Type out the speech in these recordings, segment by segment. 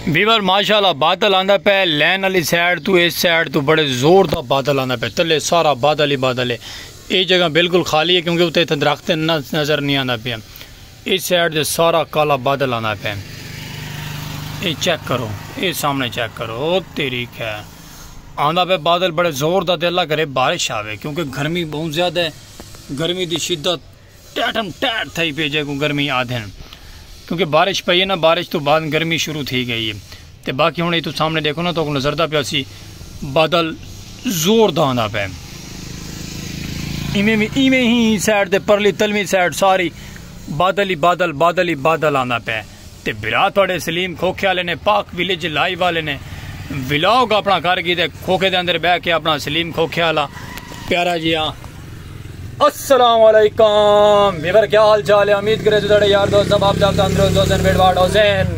بیور ماشاءاللہ بادل آندا پہ لین علی سائیڈ تو اس سائیڈ تو بڑے زور دا بادل آندا پہ تلے سارا بادل ہی بادل ہے اے جگہ بالکل خالی ہے کیونکہ اتے اتھے درخت نظر نہیں آندا پہ اس سائیڈ دے سارا کالا بادل آندا پہ اے چیک کرو اے سامنے چیک کرو تیری ہے آندا پہ بادل بڑے زور دا دے اللہ کرے بارش آوے کیونکہ گرمی بہت زیادہ ہے گرمی دی شدت ٹیٹم ٹیٹ تھئی پی جے کوں گرمی آدھن کیونکہ بارش پئی ہے نا بارش تو بعد گرمی شروع تھی گئی ہے تے باقی ہن ایتھوں سامنے ڈیکھو نا تو نظر دا پیا سی بادل زور دا آندا پے ایویں ایویں ہی سائڈ تے پرلی تلویں سائڈ ساری بادل ہی بادل بادل ہی بادل آندا پے تے بھرا تہاڈے سلیم کھوکھے آلے نے پاک ویلیج لائیو آلے نے ولاگ اپنا کر گی تے کھوکھے دے اندر بہ کے اپنا سلیم کھوکھے آلا پیارا جی آ السلام علیکم ویور کیا حال چال ہے امید کرے تو تہاڈے یار دوست سب آپ جاب تندرست دوستن بیٹ واٹ حسین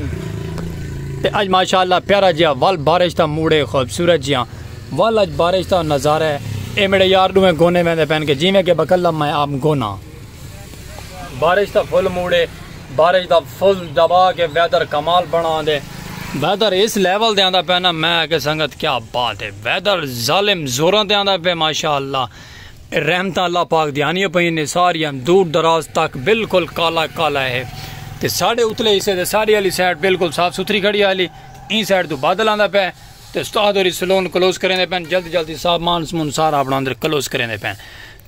تے اج ماشاءاللہ پیارا جی آ ول بارش دا موڑے خوبصورت جی آ ول اج بارش دا نظارہ ہے اے میرے یار دوے گونے ویندے پین کے جی میں کے بکلم میں آپ گونا بارش دا فل موڈے بارش دا فل دبا کے ویدر کمال بنا دے ویدر اس لیول دے آندا پہ نا میں اگے سنگت کیا بات ہے ویدر ظالم زوراں دے آندا پہ ماشاءاللہ رحمت اللہ پاک دی آنی پہ نے ساری ہم دور دراز تک بالکل کالا کالا ہے تے ساڑے اتلے اسے دے ساری علی سائٹ بالکل صاف ستری کھڑی آلی این سائٹ دو بادل آندا پہ تے استاد اور سلون کلوز کریں دے پہ جلد جلد صاحب مانس منسار اپنا اندر کلوز کریں دے پہ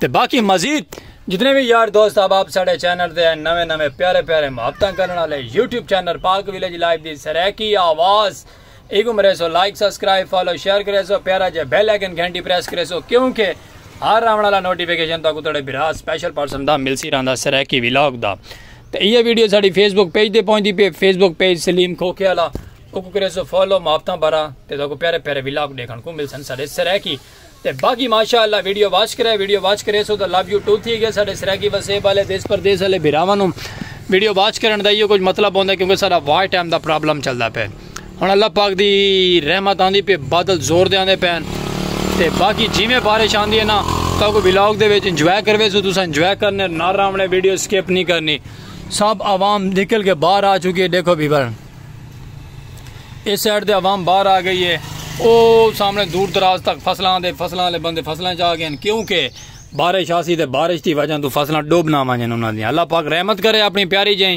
تے باقی مزید جتنے وی یار دوست احباب ساڈے چینل تے ہیں نویں نویں پیارے پیارے محبتاں کرن والے YouTube channel Pak village live دی سرائیکی آواز ایکو مرے سو لائک سبسکرائب فالو شیئر کرے سو پیارا جے بیل آئیکن گھنٹی پریس کرے سو کیونکہ ہر آون والا نوٹیفیکیشن تاکو تڑے برا سپیشل پرسن دا ملسی رہندا سرائیکی ویلاگ دا تے یہ ویڈیو ساڈی فیس بک پیج تے پہنچ دی پے فیس بک پیج سلیم کھوکھے والا اوکو کرے سو فالو محبتاں بھرا تے تاکو پیارے پیارے ویلاگ دیکھن کو ملسن ساڈے سرائیکی تے باقی ماشاء اللہ ویڈیو واچ کرے ویڈیو واچ کرے سو تو لو یو ٹو تھی گئے سارے سرائیکی وسیب والے دیس پردیس والے بھراواں نو ویڈیو واچ کرن دا ایو کچھ مطلب ہوندا کیونکہ سارا واچ ٹائم دا پرابلم چلدا پے ہن اللہ پاک دی رحمت آندی پے بادل زور دے آندے پین تے باقی جیویں بارش آندی ہے نا تو کو ولاگ دے وچ انجوائے کروے سو تساں انجوائے کرنے نہ راونے ویڈیو سکپ نہیں کرنی سب عوام نکل کے باہر آ چکی ہے دیکھو بھی بھر اس سائڈ دے عوام باہر آ گئی ہے او سامنے دور دراز تک فصلاں دے فصلاں لے بندے فصلاں چاہ گئے ہیں کیونکہ بارش آسی تے بارش دی وجہ تو فصلاں ڈوب نہ وانجن انہاں دی اللہ پاک رحمت کرے اپنی پیاری جائیں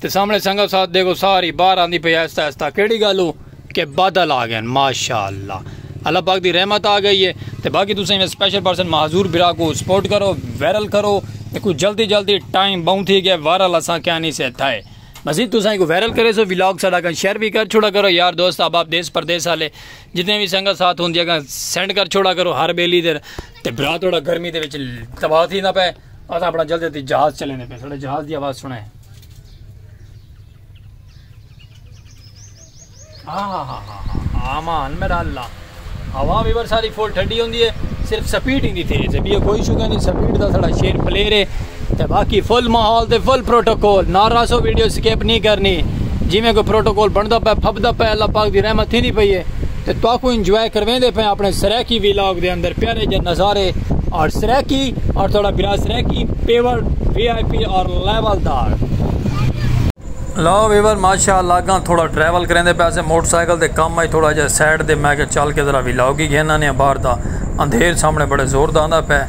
تے سامنے سنگت ساتھ دیکھو ساری باہر آندی پہ ایستا ایستا کیڑی گالو کہ بادل آ گئے ہیں ماشاءاللہ اللہ پاک دی رحمت آ گئی ہے تے باقی تو سنگے سپیشل پرسن محضور برا کو سپورٹ کرو ویرل کرو تے کوئی جلدی جلدی ٹائم باؤں تھی گئے وارل اساں کیا نہیں سے تھائے مزید تساں ایکو وائرل کرے سو ویلاگ ساڑا کن شیئر بھی کر چھوڑا کرو یار دوست احباب دیس پردیس والے جتنے بھی سنگت ساتھ ہوندی اگاں سینڈ کر چھوڑا کرو ہر بیلی دے تے برا تھوڑا گرمی دے وچ تباہ تھی نہ پے اس اپنا جلدی تے جہاز چلے نے پے ساڑا جہاز دی آواز سنے آمان میرا اللہ ہوا بھی بر ساری فل ٹھڈی ہوندی ہے صرف سپیڈ ہی نہیں تیز ہے بھی کوئی ایشو کہیں نہیں سپیڈ دا سڑا شیر پلیر ہے تے باقی فل ماحول تے فل پروٹوکول نارا سو ویڈیو سکیپ نہیں کرنی جی میں کوئی پروٹوکول بندا پے پھبدا پے اللہ پاک دی رحمت تھی نہیں پئی ہے تے تو کو انجوائے کرویں دے پے اپنے سریکی ویلاگ دے اندر پیارے جے نظارے اور سریکی اور تھوڑا برا Saraiki pure V I P اور لیول دار لو ویور ماشاء اللہ اگاں تھوڑا ٹریول کریندے پیسے موٹر سائیکل دے کم آئی تھوڑا جا سائیڈ دے میں کہ چل کے ذرا ویلاگ ہی گھن آنے ہیں باہر دا اندھیر سامنے بڑے زور دا آندہ پے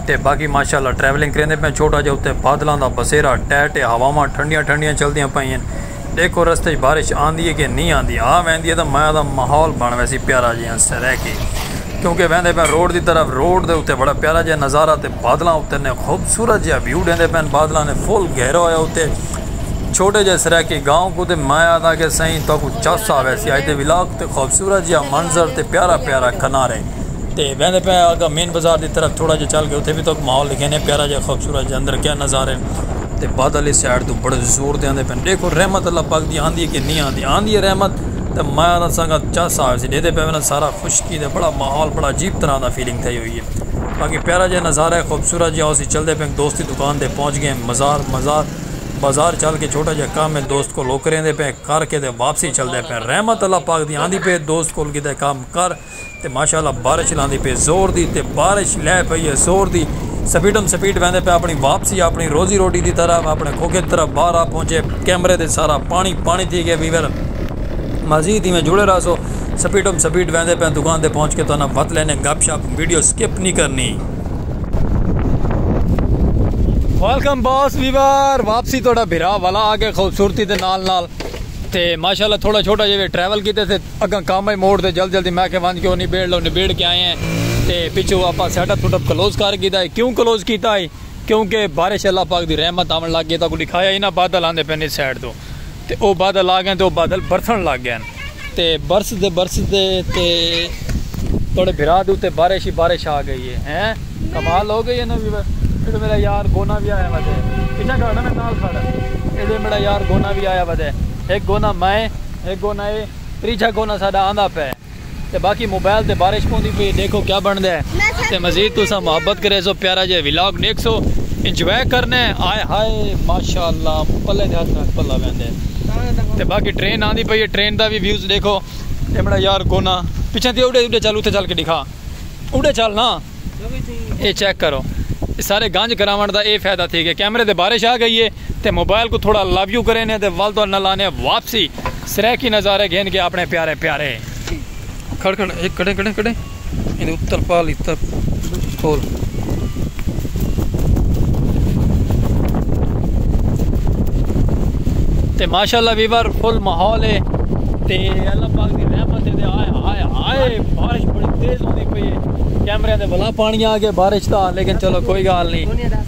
تے باقی ماشاء اللہ ٹریولنگ کریندے پے چھوٹا جا اتے بادلاں دا بسیرا ٹیٹ ہے ہواواں ٹھنڈیاں ٹھنڈیاں چل دیاں پئیں ہیں دیکھو رستے چ بارش آندی ہے کہ نہیں آندی آ ویندی ہے تو میں آدھا ماحول بن ویسی پیارا جی ہاں سرے کے کیونکہ ویندے پے روڈ دی طرف روڈ دے اتے بڑا پیارا جا نظارہ تے بادلاں اتے نے خوبصورت جا ویو ڈیندے پے بادلاں نے فل گھیرا ہویا اتے چھوٹے جئے سرائیکی گاؤں کوں تے میں آہداں کہ سئیں تہاکوں چس آویسی اج دے ولاگ تے خوبصورت جیہا منظر تے پیارا پیارا کنارے تے ویندے پئے آں اگاں مین بازار دی طرف تھوڑا جیہا چل کے اتھے وی تہاکوں ماحول ڈکھیندے ہیں پیارا جیہا خوبصورت جیہا اندر کیا نظارے تے بادل اس سائیڈ توں بڑے زور دے آندے پئن ڈیکھو رحمت اللہ پاک دی آندی ہے کہ نہیں آندی آندی ہے رحمت تے میں آہداں سانگاں چس آویسی ڈیہدے پئے ویندے سارا خشکی دے بڑا ماحول بڑا عجیب طرح دا فیلنگ تھئی ہوئی ہے باقی پیارا جیہا نظارہ ہے خوبصورت جیہا اسی چلدے پئے دوست دی دکان تے پہنچ گئے ہیں مزار مزار بازار چل کے چھوٹا جیا کم ہے دوست کول او کریندے پئے کر کے تے واپسی چلدے پئے رحمت اللہ پاک دی آندی پئے دوست کول کیتے کم کر تے ماشاءاللہ بارش لاندی پئے زور دی تے بارش لے پئی ہے زور دی سپیڈم سپیڈ ویندے پئے اپنی واپسی اپنی روزی روٹی دی طرف اپنے کھوکھے طرف باہر آ پہنچے کیمرے تے سارا پانی پانی تھی گئے ویور مزید ایویں جڑے رہسو سپیڈم سپیڈ ویندے پئے دکان تے پہنچ کے تہاڈا وت لینے گپ شپ ویڈیو سکپ نی کرنی۔ ویلکم باس ویور واپسی تھوڑا بھرا والا آ گئے خوبصورتی دے نال نال تے ماشاءاللہ تھوڑا چھوٹا جے ٹریول کیتے تھے اگاں کام ہے موڑ تے جلد جلدی میں کہ وانج کے او نبیڑ لو نبیڑ کے آئے ہیں تے پچھو آپا setup setup close کر گیتا ہے کیوں کلوز کیتا ہے کیونکہ بارش اللہ پاک دی رحمت آون لگ گئی تا کو دکھایا ہی نہ بادل آندے پہ نہیں سائڈ تو تے او بادل آ گئن تے او بادل برسن لگ گئن تے برس دے برس دے تے توڑے بھرا دے اتے بارش ہی بارش آ گئی ہے ہیں کمال ہو گئی ہے نا ویور ایڈو میرا یار گونا بھی آیا ودے پیچھا کھڑا میں نال کھڑا ایڈو میرا یار گونا بھی آیا ودے ایک گونا میں ایک گونا ہے تریجہ گونا ساڑا آندہ پہ تے باقی موبائل تے بارش پوندی پئی ڈیکھو کیا بندا ہے تے مزید تساں محبت کریسو پیارا جے ولاگ ڈیکھسو انجوائے کرنے ہائے ہائے ماشاءاللہ پلے دے ہتھ نال پلا ویندے تے باقی ٹرین آندی پئی ہے ٹرین دا وی ویوز ڈیکھو ایمڑا یار کونا پیچھے تے اوڈے اوڈے چل اوتھے چل کے ڈیکھا اوڈے چل نا اے چیک کرو سارے گنج کراون دا اے فائدہ تھی گیا کیمرے تے بارش آ گئی ہے تے موبائل کوں تھوڑا لو یو کرینے تے ول تہاڈے نال آنے واپسی سرائیکی نظارے گھن کے اپنے پیارے پیارے۔ کھڑ کھڑ اے کڈھیں کڈھیں کڈھیں ایندے اتر پال اتر کھول۔ تے ماشاءاللہ ویور فل ماحول ہے تے اللہ پاک دی رحمت ہے تے ہائے ہائے ہائے بارش بڑی تیز ہوندی پئی ہے کیمرے دے بلا پانی آ گئے بارش دا لیکن چلو کوئی گال نہیں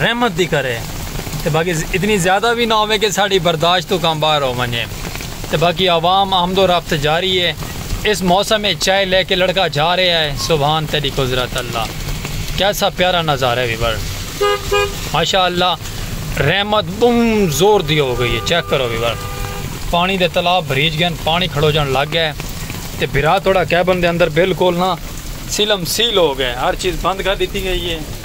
رحمت دی کرے تے باقی اتنی زیادہ وی نہ ہووے کہ ساڈی برداشت توں کم باہر ہو ونجے تے باقی عوام آمد و رفت جاری اے اس موسم اچ چائے لے کے لڑکا جا رہیا اے سبحان تیڈی قذرت اللہ کیسا پیارا نظارہ وی ور ماشاء اللہ رحمت بہوں زور دی ہو گئی اے چیک کرو وی ور پانی دے تالاب بھریج گئن پانی کھڑوجن لگ گئے تے بھرا تھوڑا کیبن دے اندر بالکل نا سیلم سیل ہو گئے ہر چیز بند کر دیتی گئی اے۔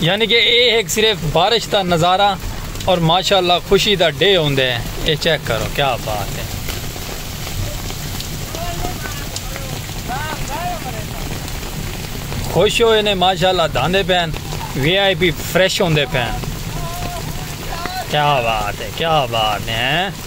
یعنی کہ اے ایک صرف بارش دا نظارہ اور ماشاءاللہ خوشی دا ڈے ہوندے ہیں اے چیک کرو کیا بات ہے خوش ہوئے نے ماشاءاللہ دھاندے پین وی آئی پی فریش ہوندے پین کیا بات ہے کیا بات ہے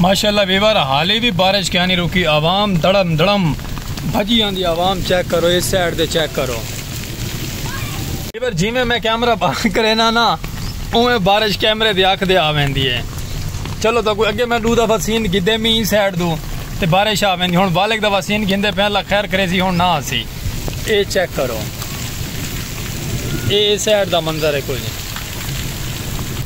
ماشاءاللہ ویور حالی بھی بارش کیا نہیں روکی عوام دڑم دڑم بھجی آن دی عوام چیک کرو اس سیڈ دے چیک کرو ایور جیویں میں کیمرہ بند کرینا نا اوویں بارش کیمرے دی اکھ دے آ ویندی ہے چلو تاں کوئی اگے میں ڈو دفعہ سین گھدے می این سائیڈ دو تے بارش آ ویندی ہن والک دفعہ سین گھندے پے اللہ خیر کرے سی ہن نہ آسی اے چیک کرو اے سائیڈ دا منظر ہے کوئی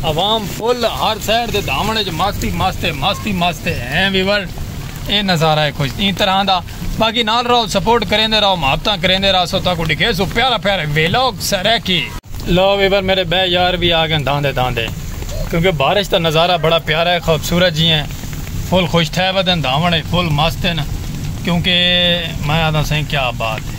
عوام فل ہر سائیڈ دے دھاونے جو ماستی ماستے ماستی ماستے ہیں ویور اے نظارہ ہے کوئی این طرح دا باقی نال رہو سپورٹ کریندے رہو محبتاں کریندے رہسو تہاکوں ڈکھیسوں پیارا پیارا ویلاگ سرائیکی۔ لو ویور میڈے بئے یار وی آگئن داندے داندے کیونکہ بارش دا نظارہ بڑا پیارا ہے خوبصورت جی ہیں فل خوش تھئے ودن دھاون اچ فل مست ہن کیونکہ میں آدھاں سائیں کیا بات ہے۔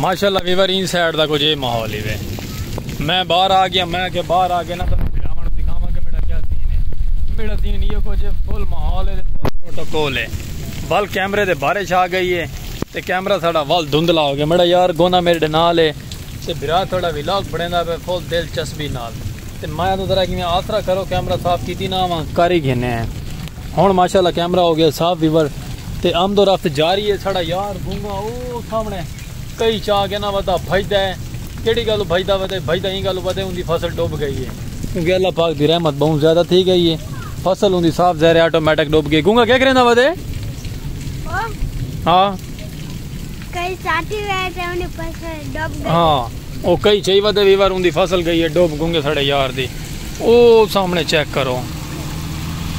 ماشاءاللہ ویور این سائیڈ دا کچھ اے ماحول ہی وے میں باہر آ گیا میں کہ باہر آ گیا نا تو بلاون دکھاواں کہ میرا کیا سین ہے میرا سین یہ کچھ فل ماحول ہے فل پروٹوکول ہے ول کیمرے دے بارش آ گئی ہے تے کیمرہ ساڑا ول دھندلا ہو گیا میرا یار گونا میرے نال ہے تے بھرا تھوڑا ویلاگ بنیندا پہ فل دلچسپی نال تے مایا توں ذرا کیویں آسرا کرو کیمرہ صاف کیتی نہ آواں کاری گھنے ہیں ہن ماشاءاللہ کیمرہ ہو گیا صاف ویور تے آمد و رفت جاری ہے ساڑا یار گونگا او سامنے کئی چا کے نہ ودا بھجدا ہے کیڑی گالو بھجدا ودے بھجدا ایں گالو ودے اوندی فصل ڈوب گئی ہے کیونکہ اللہ پاک دی رحمت بہوں زیادہ تھی گئی ہے فصل اوندی صاف زہرے آٹومیٹک ڈوب گئی گونگا کیا کریندا ودے ہاں کئی ساٹھی وے تے اوندی فصل ڈوب گئی ہاں او کئی چئی ودے وی وار اوندی فصل گئی ہے ڈوب گونگے ساڑے یار دی او سامنے چیک کرو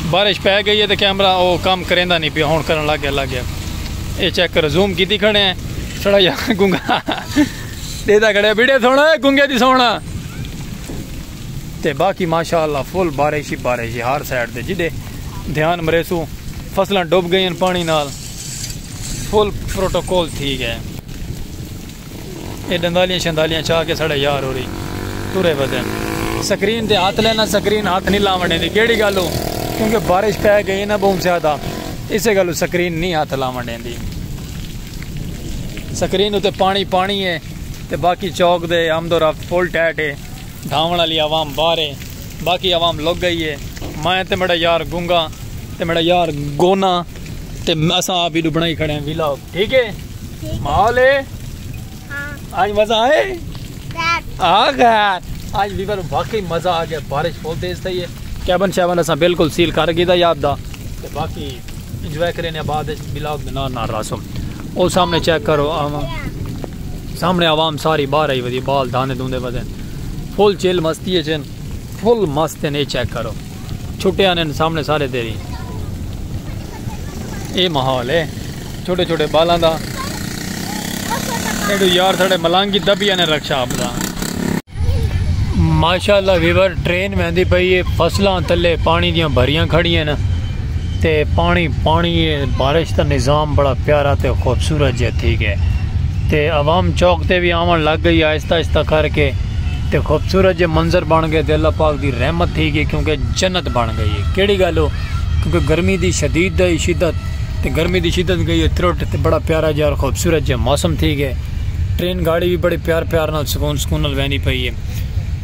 بارش پے گئی ہے تے کیمرہ او کام کریندا نہیں پیا ہن کرن لگ گیا لگ گیا اے چیک کر زوم کیتی کھڑے ہیں ساڑا یار گونگا دیدا کھڑے بیڑے سونا ہے گونگے دی سونا تے باقی ماشاءاللہ فل بارش ہی بارش ہی ہر سائیڈ تے جڑے دھیان مریسو فصلاں ڈوب گئی ہیں پانی نال فل پروٹوکول تھی گئے۔ اے ڈندالیاں شندالیاں چا کے ساڑے یار ہوری ٹرے ودن۔ سکرین تے ہتھ لینا سکرین ہتھ نی لاون ڈیندی کیڑی گل ہو کیونکہ بارش پے گئی نا بہوں زیادہ اسے گل ہو سکرین نی ہتھ لاون ڈیندی۔ سکرین اتے پانی پانی ہے تے باقی چوک دے آمد و رفت فل ٹیٹ ہے۔ ڈھاون آلی عوام باہر ہے باقی عوام لک گئی ہے۔ میں تے میڈا یار گونگا تے میڈا یار گونا۔ تے اساں آپ ویڈیو بنائی کھڑے ہیں ویلاگ ٹھیک ہے ماحول ہے آج ہاں۔ مزہ آئے آج بھی بارو باقی مزہ آ گیا بارش فول تیز تھی ہے کیبن شیبن اساں بالکل سیل کر گئی دا یاد دا تے باقی انجوائے کریں یا بعد ویلاگ دے نال نال راسو او سامنے چیک کرو عوام سامنے عوام ساری باہر آئی ودی بال داندے دوندے ودے فل چیل مستی ہے جن فل مست ہے چیک کرو چھٹے آنے نے سامنے سارے تیری اے محول ہے چھوٹے چھوٹے بالاں دا ایڈو یار ساڑے ملانگی دبی آنے رکشا آپ دا ماشاءاللہ ویور ٹرین میں دی پئی ہے فصلان تلے پانی دیاں بھریاں کھڑی ہیں تے پانی پانی ہے بارش تا نظام بڑا پیارا تے خوبصورت جہ تھی گئے تے عوام چوک تے بھی آمان لگ گئی آئیستا آئیستا کر کے تے خوبصورت جے منظر بن گئے تے اللہ پاک دی رحمت تھی گئی کیونکہ جنت بن گئی ہے کیڑی گل ہو کیونکہ گرمی دی شدید دے شدت تے گرمی دی شدت گئی ہے ترٹ تے بڑا پیارا جے اور خوبصورت جے موسم تھی گئے ٹرین گاڑی بھی بڑے پیار پیار نال سکون سکون نال ویندی پئی ہے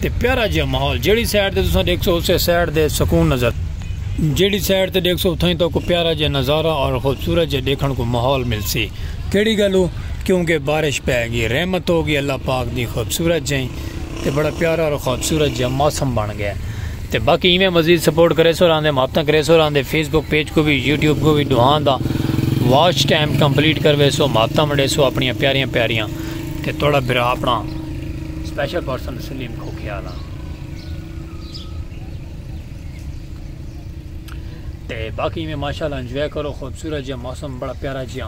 تے پیارا جے ماحول جیڑی سائیڈ تے تساں ڈیکھ سو اسے سائیڈ دے سکون نظر جیڑی سائیڈ تے ڈیکھ سو اتھاں ہی تو کو پیارا جے نظارہ اور خوبصورت جے ڈیکھن کو ماحول ملسی کیڑی گل ہو کیوں کہ بارش پے گی رحمت ہو گی اللہ پاک دی خوبصورت جائیں تے بڑا پیارا اور خوبصورت جا موسم بن گیا تے باقی ایویں مزید سپورٹ کرے سو راندے محبتاں کرے سو راندے فیس بک پیج کو بھی یوٹیوب کو بھی دوہان دا واچ ٹائم کمپلیٹ کروے سو محبتاں منڈے سو اپنی پیاریاں پیاریاں تے توڑا برا اپنا اسپیشل پرسن سلیم کو خیال آ تے باقی میں ماشاءاللہ انجوائے کرو خوبصورت جا موسم بڑا پیارا جا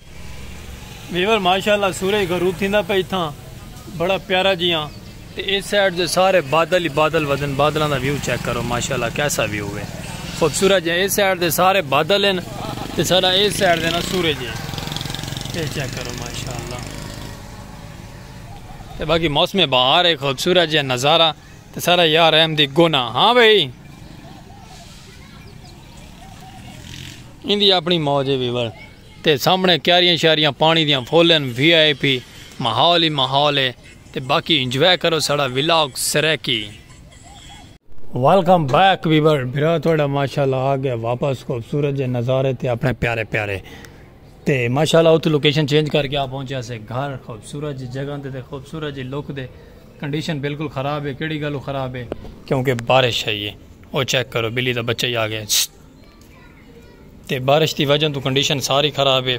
ویور ماشاءاللہ سورج غروب تھیندا پئی تھا بڑا پیارا جی ہاں تے اس سائیڈ دے سارے بادل ہی بادل ودن بادلاں دا ویو چیک کرو ماشاءاللہ کیسا ویو ہے خوبصورت جی اس سائیڈ دے سارے بادل ہیں تے سارا اس سائیڈ دے نا سورج ہے یہ چیک کرو ماشاءاللہ تے باقی موسم بہار ہے خوبصورت جی نظارہ تے سارا یار احمد دی گونا ہاں بھائی اندی اپنی موج ہے ویور تے سامنڑے کیاریاں شیاریاں پانڑی دیاں فل ہن وی آئی پی ماحول ہی ماحول ہے تے باقی انجوائے کرو ساڑا vlog Saraiki. Welcome back viewer بھرا تہاڈا ماشاءاللہ آ گئے واپس خوبصورت جے نظارے تے اپنے پیارے پیارے تے ماشاءاللہ اتھوں لوکیشن چینج کر کے آ پہنچیا سے گھر خوبصورت جی جگہ تے تے خوبصورت جی لک دے کنڈیشن بالکل خراب ہے کیڑی گالوں خراب ہے کیونکہ بارش آئی ہے او چیک کرو بلی دا بچہ ہی آ گیا تے بارش دی وجہ توں کنڈیشن ساری خراب ہے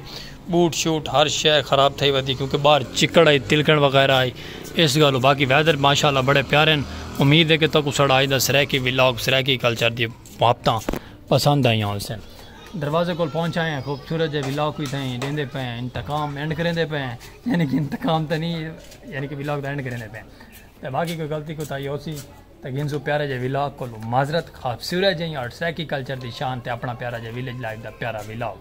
بوٹ شوٹ ہر شے خراب تھئی ودی کیونکہ باہر چکڑ ہئی تلکن وغیرہ ہئی اس گالوں باقی ویدر ماشاءاللہ بڑے پیارے ہیں امید ہے کہ تکو سڑا آج دا سرائیکی ولاگ سرائیکی کلچر دی محبتاں پسند آئیاں ہوں سن دروازے کول پہنچ آئے ہیں خوبصورت جے ولاگ کوئی تھا ہیں دیندے پہ ہیں انتقام اینڈ کریں دے پہ ہیں یعنی کہ انتقام تھا نہیں یعنی کہ ولاگ دا اینڈ کریں دے پہ ہیں باقی کوئی غلطی کوئی تھا ہی ہو سی تے گھنسوں پیارا جے ولاگ کولوں معذرت خواب سورہ جئیں آرٹ سرائیکی کلچر دی شان تے اپنا پیارا جے ولیج لائف دا پیارا ولاگ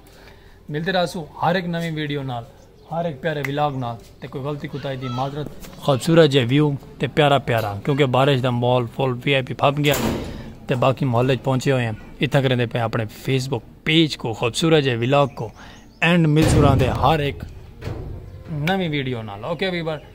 ملدے رہسوں ہر ہک نویں ویڈیو نال ہر ہک پیارے ولاگ نال تے کوئی غلطی کوتاہی دی معذرت خواب سورہ جے ویو تے پیارا پیارا کیونکہ بارش دا مال فل وی آئی پی پھپ گیا تے باقی محلے چ پہنچے ہوئے ہیں اتھا کریں دے پہ اپنے فیس بک پیج کو خواب سورہ جے ولاگ کو اینڈ مل سورہ دے ہر ہک نویں ویڈیو نال اوکے ویور